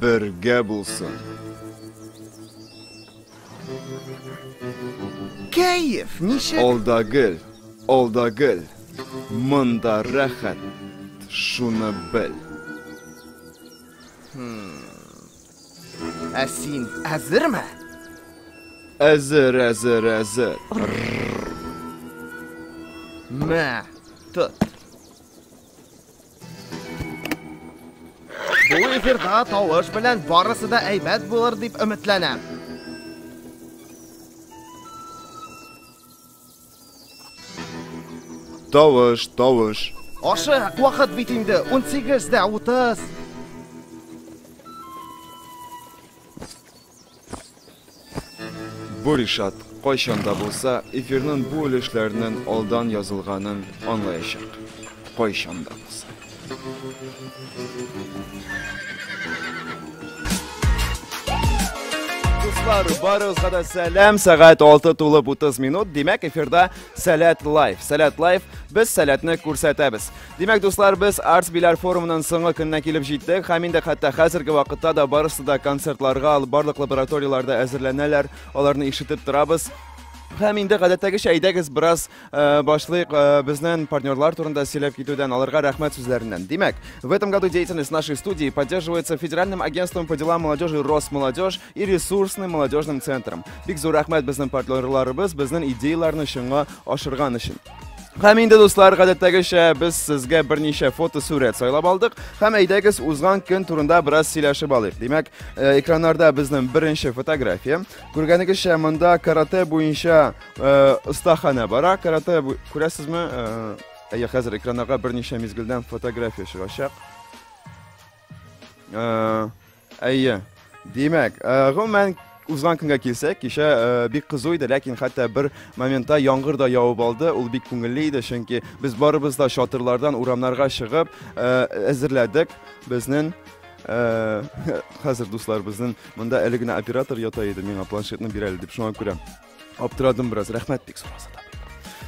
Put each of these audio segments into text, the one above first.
Бергә булсын! Кәеф ничек? Алдагел, алдагел, монда рәхәт, шуны бел. Ә син әзерме? Әзер, әзер, әзер. Мә, тот. Бу эфирда тавыш белән барысы да әйбәт булыр дип өметләнәм. Тавыш, тавыш. Ашы, вакыт бит инде 18 дә 30. Бу Ришат кайчан да булса эфирнын бу өлешләренен алдан язылганын анлаячак. Кайчан да булса. Дуслар, барыгызга да сәлам. Сәгать 6 тулып 30 минут. Димәк, эфирда Сәләт Лайф. Сәләт Лайф. Без сәләтне күрсәтәбез. Димәк, дуслар, без Arts Bilar форумының соңгы көненә килеп җиттек. Һәм инде хәтта хәзерге вакытта да барысы да концертларга, алып барлык лабораторияләрдә әзерләнәләр. Аларны ишетеп торабыз. Һәм инде гадәттәгечә әйдәгез бераз э, башлыйк э, безнең партнерлар турында сөйләп китүдән, аларга рәхмәт сүзләреннән. Димәк, в этом году деятельность нашей студии поддерживается Федеральным агентством по делам молодежи Росмолодежь и ресурсным молодежным центром. Бик зур рәхмәт безнең партнерларыбыз безнең идеяләрне чынга ашырган өчен. Һәм инде дуслар, гадәттәгечә без сезгә берничә фотосурәт сайлап алдык. Һәм әйдәгез узган көн турында бераз сөйләшеп алыйк. Димәк, э, экраннарда безнең беренче фотография. Күргәнегезчә, монда карате буенча э, остахана бара. Карате күрәсезме? Э, әйе, хәзер экраннарга берничә мизгелдән фотография чыгачак. Әйе. Димәк, гомумән узган көнгә килсәк, кичә э, бик кызу иде, ләкин хәтта бер моментта яңгыр да явып алды. Ул бик күңелле иде, чөнки без барыбыз да чатырлардан урамнарга чыгып э, әзерләдек безнең э, хәзер дуслар безнең монда әле генә оператор ята иде, миңа планшетны бирәле дип шуңа күрә. Аптырадым бераз, рәхмәт бик сораса да.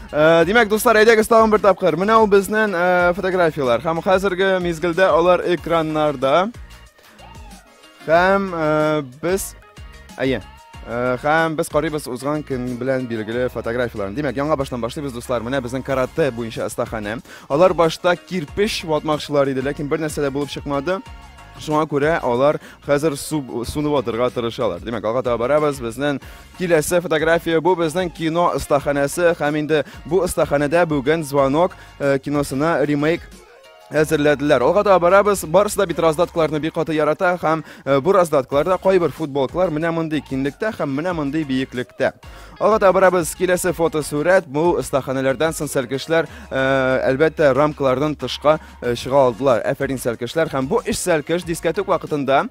Э, Димәк, дуслар, әйдәгез тагын бер тапкыр. Менә ул безнең э, фотографияләр. Һәм хәзерге мизгелдә алар экраннарда. Һәм э, без әйе. Һәм без карыйбыз узган көн белән билгеле фотографияләрне. Димәк, яңа баштан башлыйбыз, дуслар. Менә безнең карате буенча остаханә. Алар башта кирпич ватмакчылар иде, ләкин бер нәрсә дә булып чыкмады. Шуңа күрә алар хәзер суны ватырга тырышалар. Димәк, алга таба барабыз. Безнең Киләсе фотография бу безнең кино остаханәсе һәм инде бу остаханәдә бүген звонок э, киносына ремейк әзерләделәр. Алга да барабыз. Барысы да бит раздаткаларны бик каты ярата һәм э, бу раздаткаларда кайбер футболкалар менә мондый кинлектә һәм менә мондый биеклектә. Алга да барабыз. Киләсе фотосурәт бу остаханәләрдән соң сәлкешләр э, әлбәттә рамкалардан тышка чыга алдылар. Әфәрин сәлкешләр һәм бу эш сәлкеш дискәтүк вакытында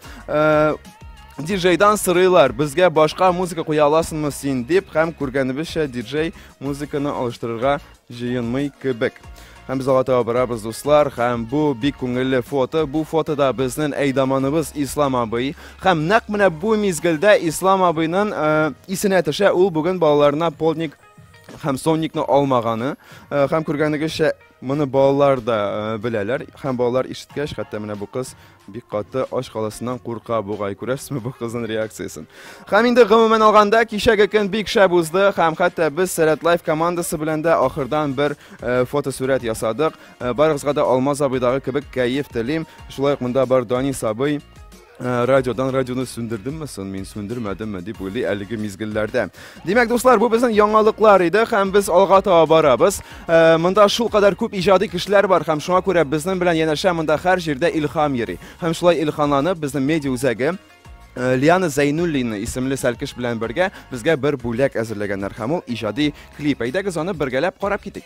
Диджейдан сырыйлар, безгә башка музыка куя аласыңмы син дип, һәм күргәнебезчә диджей музыканы алыштырырга җыенмый кебек. Һәм без алга таба барабыз, дуслар, һәм бу бик күңелле фото. Бу фотода безнең әйдаманыбыз Ислам абый. Һәм нәкъ менә бу мизгелдә Ислам абыйның э, исенә төшә, ул бүген балаларына полник һәм сонникны алмаганы э, һәм күргәнегезчә моны балалар да э, беләләр һәм балалар ишеткәч хәтта менә бу кыз Бик каты ач каласыннан курка бугай. Күрәсезме бу кызның реакциясен? Һәм инде гомумән алганда, кичәге көн бик шәп узды һәм хәтта без Сәләт Лайф командасы белән дә ахырдан бер э, фотосурәт ясадык. Э, барыгызга да Алмаз абыйдагы кебек кәеф телим. Шулай ук монда бар Данис абый. Э, радиодан радионы сүндердемме сон мин, сүндермәдемме дип уйлый әлеге мизгелләрдә. Димәк, дуслар, бу безнең яңалыклар иде, һәм без алга таба барабыз. Э, монда шул кадәр күп иҗади кешеләр бар, һәм шуңа күрә безнең белән янәшә монда һәр җирдә илһам йөри. Һәм шулай илһамланып, безнең медиа үзәге э, Лиана Зайнуллина исемле сәлкеш белән бергә безгә бер бүләк әзерләгәннәр, һәм ул иҗади клип. Әйдәгез аны бергәләп карап китик.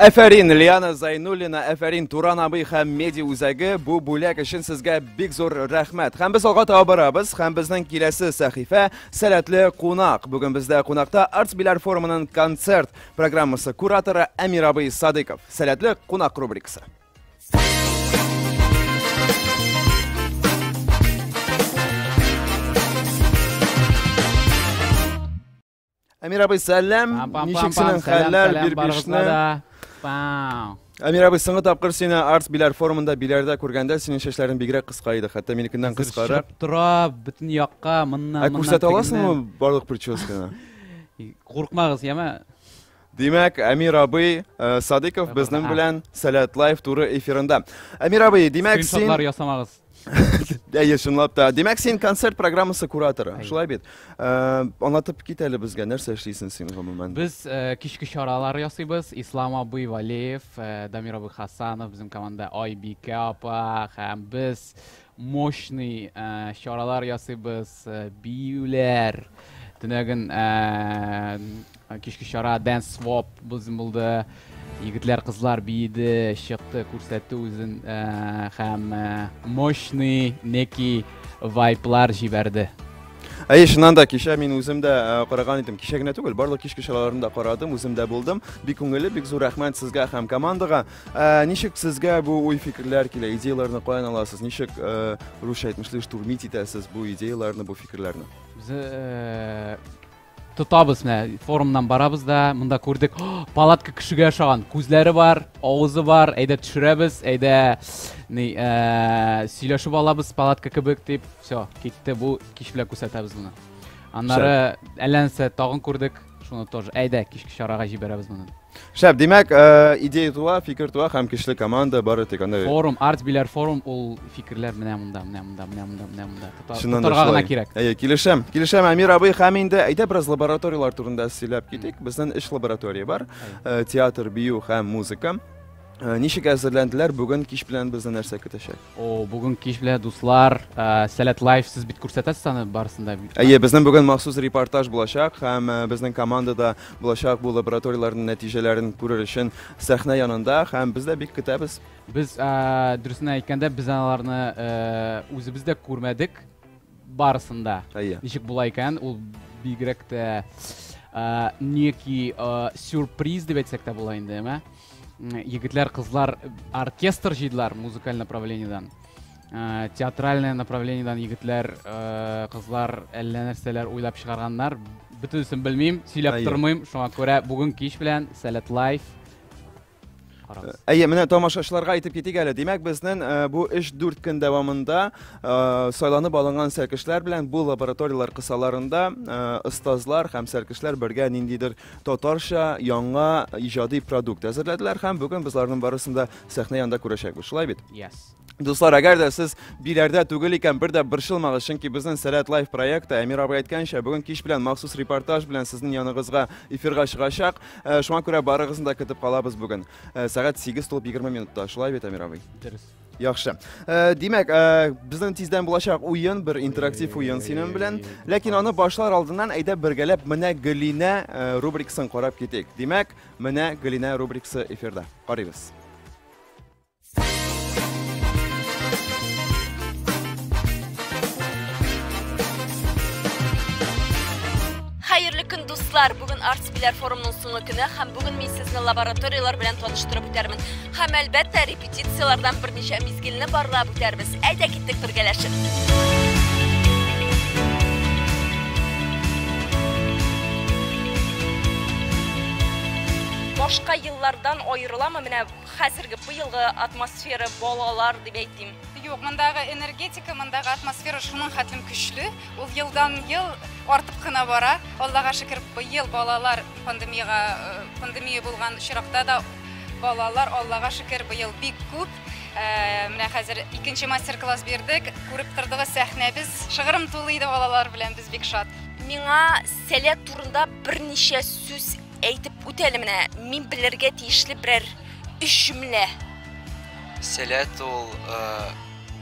Әфәрин, Лиана Зайнуллина, әфәрин, Туран абый һәм меди үзәге бу бүләк өчен сезгә бик зур рәхмәт. Һәм без алга таба барабыз, һәм безнең киләсе сәхифә сәләтле кунак. Бүген бездә кунакта Арт Биләр форумының концерт программасы кураторы Әмир абый Садыков. Сәләтле кунак рубрикасы. Әмир абый, сәлам. Ничек синең хәлләр бер бишне? Әмир абый, соңгы тапкыр сине Арс Биләр форумында Биләрдә күргәндә синең чәчләрең бигрәк кыска иде, хәтта минекеннән кыскарак. Тора, бөтен якка, моннан, моннан. Ә күрсәтә аласыңмы барлык прическаны? Куркмагыз, яме. Димәк, Әмир абый Садыков безнең белән Сәләт Лайф туры эфирында. Әмир абый, димәк, син... Скриншотлар ясамагыз. Әйе, чынлап та. Димәк, син концерт программасы кураторы, шулай бит. Э, Анлатып кит әле безгә, нәрсә эшлисең син гомумән? Без э, кичке чаралар ясыйбыз. Ислам абый Валеев, э, Дамир абый Хасанов, безнең команда Айбикә апа һәм без мощный чаралар ясыйбыз, биюләр, төнәген кичке чара Dance Swap безнең булды, егетләр, кызлар биеде, чыкты, күрсәтте үзен һәм мощный некий вайблар җибәрде. Әйе, чыннан да кичә мин үзем дә э, караган идем. Кичә генә түгел, барлык кичке чараларында карадым, үзем дә булдым. Бик күңелле, бик зур рәхмәт сезгә һәм командага. Ә, ничек сезгә бу уй-фикерләр килә? Идеяләрне каян аласыз? Ничек ә, русча әйтмешли штурмить итәсез бу идеяләрне, бу фикерләрне? Без э, тотабыз менә форумнан барабыз да, монда күрдек, «О, палатка кешегә ошаган. Күзләре бар, авызы бар, әйдә төшерәбез, әйдә ни э, сөйләшеп алабыз палатка кебек дип. Все, китте бу кич белән күрсәтәбез моны. Аннары әллә нәрсә тагын күрдек, шуны тоже әйдә кичке чарага җибәрәбез моны. Шәп, димәк, э, идея туа, фикер туа һәм көчле команда бары тик анда. Форум, арт биләр форум ул фикерләр менә монда, менә монда, менә монда, менә монда. Тотарга гына кирәк. Әйе, килешәм. Килешәм, Әмир абый, һәм инде әйдә бераз лабораторияләр турында сөйләп китик. Безнең өч лаборатория бар. Э, театр, бию һәм музыка. Э, ничек әзерләнделәр? Бүген кич белән безне нәрсә көтәчәк? О, бүген кич белән дуслар, э, Сәләт Лайф сез бит күрсәтәсез аны барысын да. Әйе, безнең бүген махсус репортаж булачак һәм э, безнең команда да булачак бу лабораторияләрнең нәтиҗәләрен күрер өчен сәхнә янында һәм без дә бик көтәбез. Без дөресен әйткәндә без аларны үзебез дә күрмәдек барысын да. Әйе. Ничек була икән, ул бигрәк тә некий сюрприз дип әйтсәк тә була инде, әмма. егетләр кызлар оркестр җыйдылар музыкаль направлениедән ә, театральное направлениедән егетләр ә, кызлар әллә нәрсәләр уйлап чыгарганнар бөтенесен белмим сөйләп Әйе. тормыйм шуңа күрә бүген кич белән сәләт лайф карагыз Әйе, менә тамашачыларга әйтеп китик әле. Димәк, безнең э, бу 3-4 көн дәвамында э, сайланып алынган сәркешләр белән бу лабораторияләр кысаларында э, остазлар һәм сәркешләр бергә ниндидер татарча яңа иҗади продукт әзерләделәр һәм бүген без аларның барысын да сәхнә янында күрәчәкбез. Шулай бит? Yes. Дуслар, әгәр дә сез биләрдә түгел икән, бер дә борчылмагыз, чөнки безнең Сәләт лайф проекты Әмир абый әйткәнчә, бүген кич белән махсус репортаж белән сезнең яныгызга эфирга чыгачак. Э, шуңа күрә барыгызны да көтеп калабыз бүген. Э, сәгать 8 тулып 20 минутта. Шулай бит, Әмир абый? Дөрес. Яхшы. Э, димәк, э, безнең тиздән булачак уен, бер интерактив уен синең белән. Ләкин аны башлар алдыннан әйдә бергәләп менә Гөлинә э, рубрикасын карап китик. Димәк, менә Гөлинә рубрикасы эфирда. Карыйбыз. Хәерле көн, дуслар! Бүген Arts Biler форумның соңгы көне һәм бүген мин сезне лабораторияләр белән таныштырып үтәрмен. Һәм әлбәттә, Петицияләрдән берничә мизгелне барлап үтәрбез. Әйдә киттек бергәләшеп. Башка еллардан аерыламы менә хәзерге быелгы атмосфера балалар дип әйтим? Юк, мондагы энергетика, мондагы атмосфера шуның хәтлем көчле. Ул елдан ел артып кына бара. Аллага шөкер, быел балалар пандемиягә э, пандемия булган очракта да Балалар, Аллага шөкер, быел бик күп. Менә хәзер икенче мастер-класс бирдек. Күреп тордыгыз сәхнәбез. Шыгырым тулы иде балалар белән, без бик шат. Миңа сәләт турында берничә сүз әйтеп үтәле менә. Мин белергә тиешле берәр өч җөмлә. Сәләт ул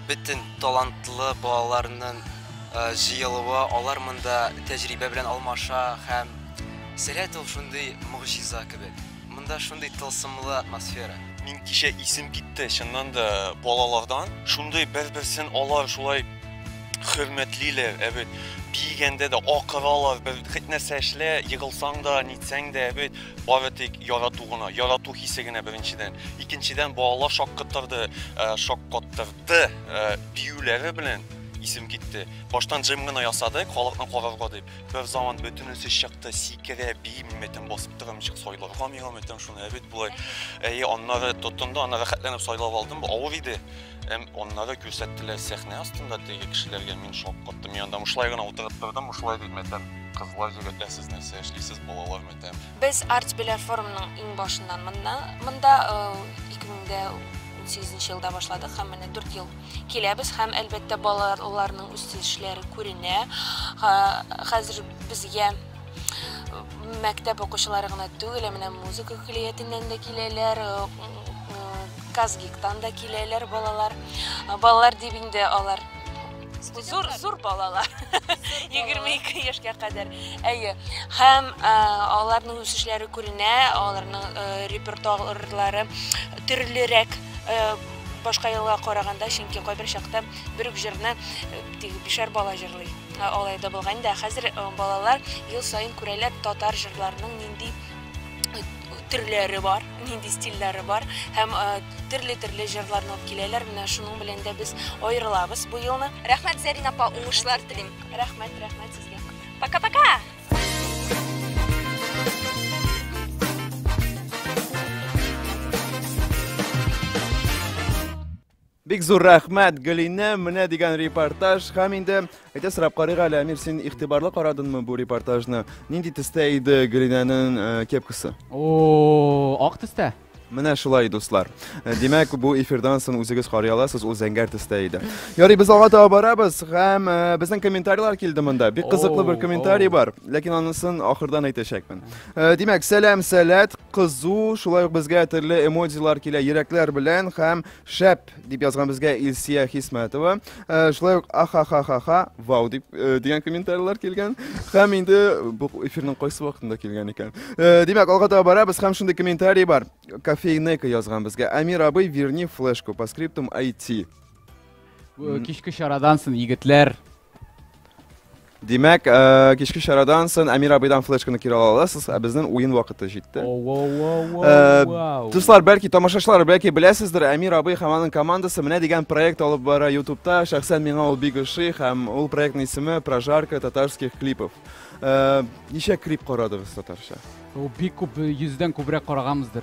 бөтен талантлы балаларның җыелуы, алар монда тәҗрибә белән алмаша һәм сәләт ул шундый могҗиза кебек. Монда шундый тылсымлы атмосфера. Мин кичә исем китте, чыннан да балалардан. Шундый бер-берсен алар шулай хөрмәтлиләр, ә бит биегәндә дә акыралар, бер хит нәрсә эшлә, егылсаң да, нитсәң дә, ә бит бары тик ярату гына, ярату хисе генә беренчедән. Икенчедән балалар шаккатырды, э, шаккаттырды э, биюләре белән исем китте. Баштан җым гына ясадык, халыкны карарга дип. Бер заман бөтен үсеш чыкты, сикерә, биеп мөметен басып тора, ничек сайларга миңа мөметен шуны, әбит болай. Әйе, аннары тоттым да, аны рәхәтләнеп сайлап алдым. Бу авыр иде. Әм аннары күрсәттеләр сәхнә астында теге кешеләргә, мин шок каттым. Мин анда мышлай гына утырып тордым, мышлай дип мәтәм. Кызлар, егетләр, сез нәрсә эшлисез, балалар мәтәм. Без Арт Беләр форумның иң башыннан монда, монда 2018 елда башладык һәм менә 4 ел Киләбез һәм әлбәттә балаларның үсешләре күренә. Хәзер безгә мәктәп укучылары гына түгел, менә музыка көллиятеннән дә киләләр, Казгиктан да киләләр балалар. Балалар дип инде алар зур зур балалар 22 яшькә кадәр әйе һәм аларның үсешләре күренә аларның репертуарлары төрлерәк Башка елга караганда, чөнки кайбер чакта бер үк җырны тик бишәр бала җырлый. Алай да булган инде. Хәзер балалар ел саен күрәләр татар җырларының нинди төрләре бар, нинди стильләре бар һәм төрле-төрле җырларны алып киләләр. Менә шуның белән дә без аерылабыз бу елны. Рәхмәт, Зәрин апа, уңышлар телим. Рәхмәт, рәхмәт сезгә. Пока-пока! Бик зур рәхмәт, Гөлинә, менә дигән репортаж. Хәм инде әйтә сорап карыйк әле, Әмир, син игътибарлы карадыңмы бу репортажны? Нинди төстә иде Гөлинәнең э, кепкасы? О, ак төстә. Менә шулай, дуслар. Э, димәк, бу эфирдан соң үзегез карый аласыз, ул зәңгәр төстә иде. Ярый, без алга таба барабыз һәм э, безнең комментарийлар килде монда. Бик кызыклы бер комментарий бар, ләкин анысын ахырдан әйтәчәкмен. Э, димәк, сәлам, сәләт, кызу, шулай ук безгә төрле эмодзилар килә, йөрәкләр белән һәм Шәп! дип язган безгә Илсия Хисмәтова. Э, шулай ук ахахахаха, вау дип э, дигән комментарийлар килгән. Һәм инде бу эфирның кайсы вакытында килгән икән. Э, димәк, алга таба барабыз һәм шундый комментарий бар. Кофейнека язган безгә. Амир абый, верни флешку по скриптум IT. Кичке чарадан соң егетләр Димәк, э, кичке чарадан сон Әмир абыйдан флешканы кире ала аласыз, ә безнең уен вакыты җитте. Э, Дуслар, бәлки тамашачылар, бәлки беләсездер, Әмир абый һәм аның командасы менә дигән проект алып бара ютубта Шәхсән миңа ул бик ошый һәм ул проектның исеме Прожарка татарских клипов. Э, ничә клип карадыгыз татарча? Ул бик күп, йөздән күбрәк караганбыздыр.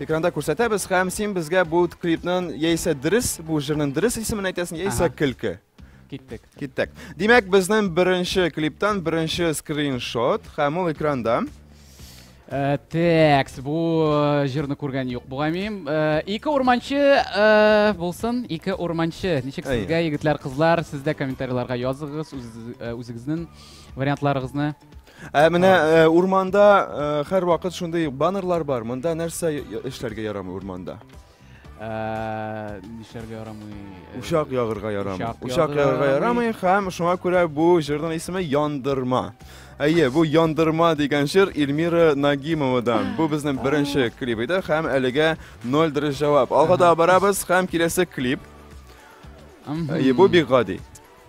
Экранда күрсәтәбез һәм син безгә бу клипның яисә дөрес, бу җырның дөрес исемен әйтәсең, яисә Ага. көлке. Киттек. Киттек. Димәк, безнең беренче клиптан беренче скриншот һәм ул экранда. Э, Текс, бу э, җырны күргән юк бугаймыйм. Э, Ике урманчы э, булсын, ике урманчы. Ничек Әйе. сезгә, егетләр, кызлар, сез дә комментарийларга языгыз үз- э, үзегезнең вариантларыгызны. Ә менә э, урманда э, һәрвакыт шундый баннерлар бар. Монда нәрсә я- эшләргә ярамый урманда? Ә, Нишләргә ярамый? Э, Учак ягырга ярамый. Учак Учак ягырга ягырга ярамый. ярамый һәм шуңа күрә бу җырның исеме Яндырма. Әйе, бу Яндырма дигән җыр Эльмира Нагимовадан. Бу безнең беренче клип иде һәм әлегә 0 дөрес җавап. Алга да барабыз һәм киләсе клип. мгм. Әйе, бу бик гади.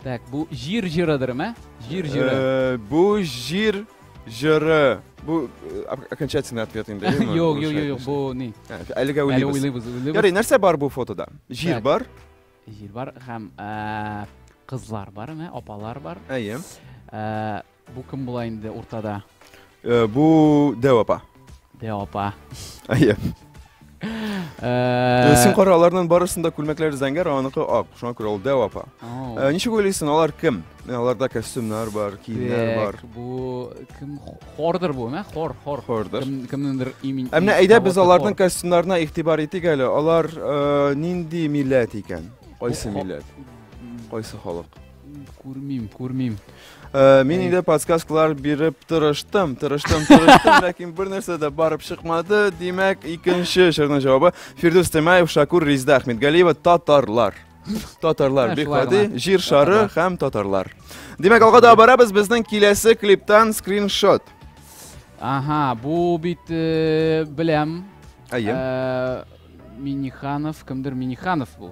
Так, бу җир җырыдыр, мә? Җир җыры. Э, бу җир җыры. Бу э, окончательный ответ инде. Юк, юк, юк, бу ни? Э, әлегә уйлыйбыз. Ярый, нәрсә бар бу фотода? Җир бар. Җир бар һәм кызлар бар, мә, апалар бар. Әйе. Бу кем була инде уртада? Э, бу Дәү апа. Дәү апа. Әйе. Э, Син кара аларның барысында күлмәкләр зәңгәр, аныкы ак. Шуңа күрә ул Дәү апа. Э, ничек уйлыйсың, алар кем? Э, аларда костюмнар бар, киемнәр бар. Бу кем хордыр бу, мә? Хор, хор. Хордыр. Кем кемнеңдер имени. Ә менә әйдә без аларның костюмнарына игътибар итик әле. Алар нинди милләт икән? Кайсы милләт? Кайсы халык? Күрмим, күрмим. Э, мин инде подсказкалар биреп тырыштым, тырыштым, тырыштым, ләкин бер нәрсә дә барып чыкмады. Димәк, икенче җырның җавабы Фирдус Темаев, Шакур Ризда Ахмедгалиева, татарлар. Татарлар бик гади, җир шары һәм татарлар. Димәк, алга да барабыз безнең киләсе клиптан скриншот. Ага, бу бит э, беләм. Әйе. Э, Миниханов, кемдер Миниханов бу.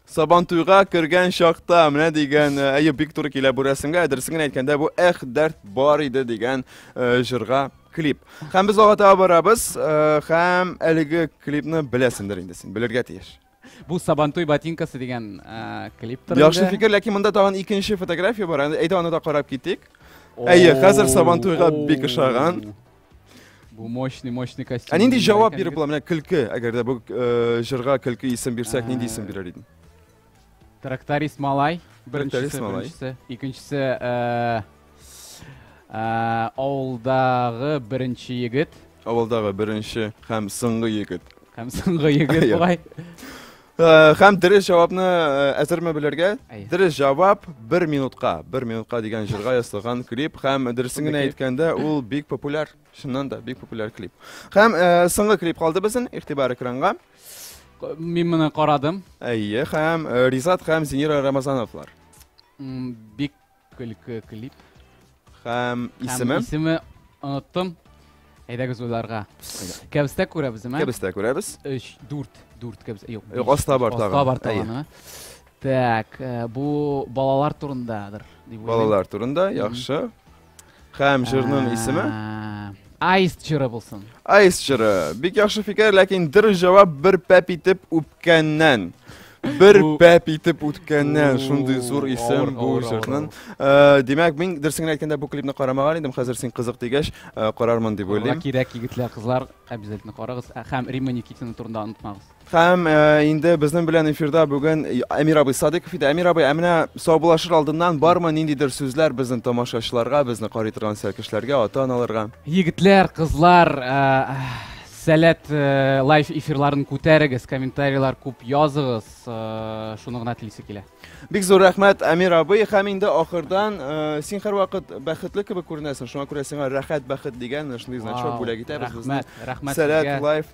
Сабантуйга кергән чакта менә дигән э, әйе бик туры килә бу рәсемгә. Дөресен генә әйткәндә бу эх дәрт бар иде дигән э, җырга клип. Һәм без алга таба барабыз э, һәм әлеге клипны беләсендер инде син, белергә тиеш. Бу Сабантуй ботинкасы дигән э, клип тора. Яхшы инде. фикер, ләкин монда тагын икенче фотография бар. Әйдә аны да карап китик. Әйе, хәзер Сабантуйга бик ошаган. Бу мощный, мощный костюм. Ә нинди җавап биреп була менә көлке, әгәр дә бу э, җырга көлке исем бирсәк, нинди исем бирер идең? Тракторист малай. Тракторист малай. Беренчесе, икенчесе э, э, авылдагы беренче егет. Авылдагы беренче һәм соңгы егет. Һәм соңгы егет бугай. Э, һәм дөрес җавапны э, әзерме белергә? Дөрес җавап бер минутка. бер минутка дигән җырга ясалган клип һәм дөресен генә әйткәндә, ул бик популяр. Чыннан да бик популяр клип. Һәм э, соңгы клип калды безнең игътибар экранга. Мин моны карадым. Әйе, һәм Ризат һәм Зинира Рамазановлар. Бик көлке клип. Һәм исеме? Һәм исеме оныттым. Әйдәгез уйларга. Кәбестә күрәбез, әмә? Кәбестә күрәбез. Өч, дүрт, дүрт кәбестә. Юк, биш. Аста бар тагын. Аста бар тагын, әмә? Так, э, бу балалар турындадыр. Балалар турында, яхшы. Хәм җырның исеме? Айс җыры булсын. Айс җыры. Бик яхшы фикер, ләкин дыр җавап бер пәп итеп үпкәннән. Бер пәп итеп үткәннән шундый зур исем бу җырның. Э, димәк, мин дөресен әйткәндә бу клипны карамаган идем, хәзер син кызык дигәч, э, карармын дип уйлыйм. Кирәк егетләр, кызлар, обязательно карагыз. Һәм Римма Никитина турында онытмагыз. Һәм инде безнең белән эфирда бүген Әмир абый Садыков иде. Әмир абый, ә менә саубуллашыр алдыннан бармы ниндидер сүзләр безнең тамашачыларга, безне карый торган сәлкешләргә, ата-аналарга? Егетләр, кызлар, сәләт э, лайф эфирларын күтәрегез, комментарийлар күп языгыз, э, шуны гына телисе килә. Бик зур рәхмәт, Әмир абый, һәм инде ахырдан э, син һәрвакыт бәхетле кебек күренәсең, шуңа күрә сиңа рәхәт бәхет дигән шундый значок бүләк итәбез. Рәхмәт, рәхмәт. Сәләт лайф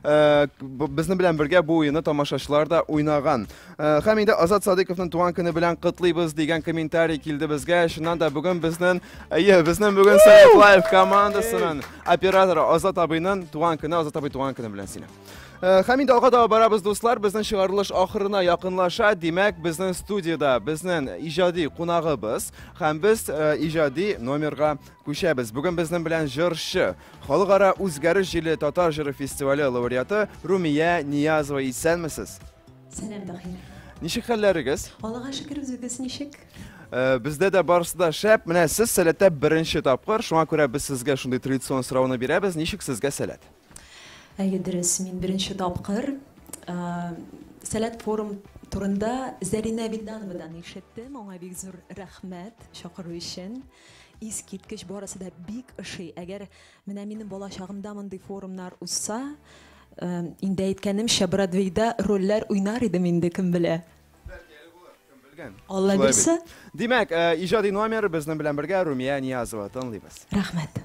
Э, безнең белән бергә бу уены тамашачылар да уйнаган. Э, һәм инде Азат Садыковның туган көне белән котлыйбыз дигән комментарий килде безгә. Чыннан да бүген безнең, әйе, безнең бүген Сәләт Лайв командасының операторы Азат абыйның туган көне, Азат абый туган көне белән сине. Э, һәм инде алга таба барабыз, дуслар. Безнең чыгарылыш ахырына якынлаша. Димәк, безнең студияда безнең иҗади кунагыбыз һәм без иҗади номерга Күчәбез. Бүген безнең белән җырчы, Халыкара үзгәреш җиле татар җыры фестивале лауреаты Румия Ниязова. Исәнмесез! Сәлам, Таһир. Ничек хәлләрегез? Аллага шөкер, үзегез ничек? Э, бездә дә барысы да шәп. Менә сез сәләттә беренче тапкыр, шуңа күрә без сезгә шундый традицион сорауны бирәбез. Ничек сезгә сәләт? Әйе, дөрес, мин беренче тапкыр э, Сәләт форум турында Зәринә Вилдановадан ишеттем. Аңа бик зур рәхмәт чакыру өчен. Искиткеч, барысы да бик ошый. Әгәр менә минем бала чагымда мондый форумнар узса, инде әйткәнемчә, Бродвейда рольләр уйнар идем инде, кем белә. Бәлки әле булыр, кем белгән. Алла бирса. Димәк, иҗади номер безнең белән бергә Румия Ниязова тыңлыйбыз. Рәхмәт.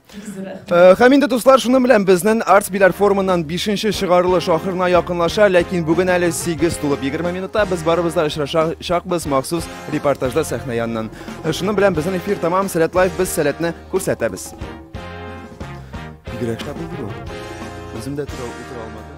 Э, һәм инде дуслар шуны белән безнең арт биләр форумыннан 5-нче чыгарылыш ахырына якынлаша, ләкин бүген әле 8 тулып 20 минутта без барыбыз да очрашачакбыз махсус репортажда сәхнә яныннан. Э, шуның белән безнең эфир тәмам, Сәләт Лайф без сәләтне күрсәтәбез. Бигрәк шатлы бу. Үзем дә тора алмадым.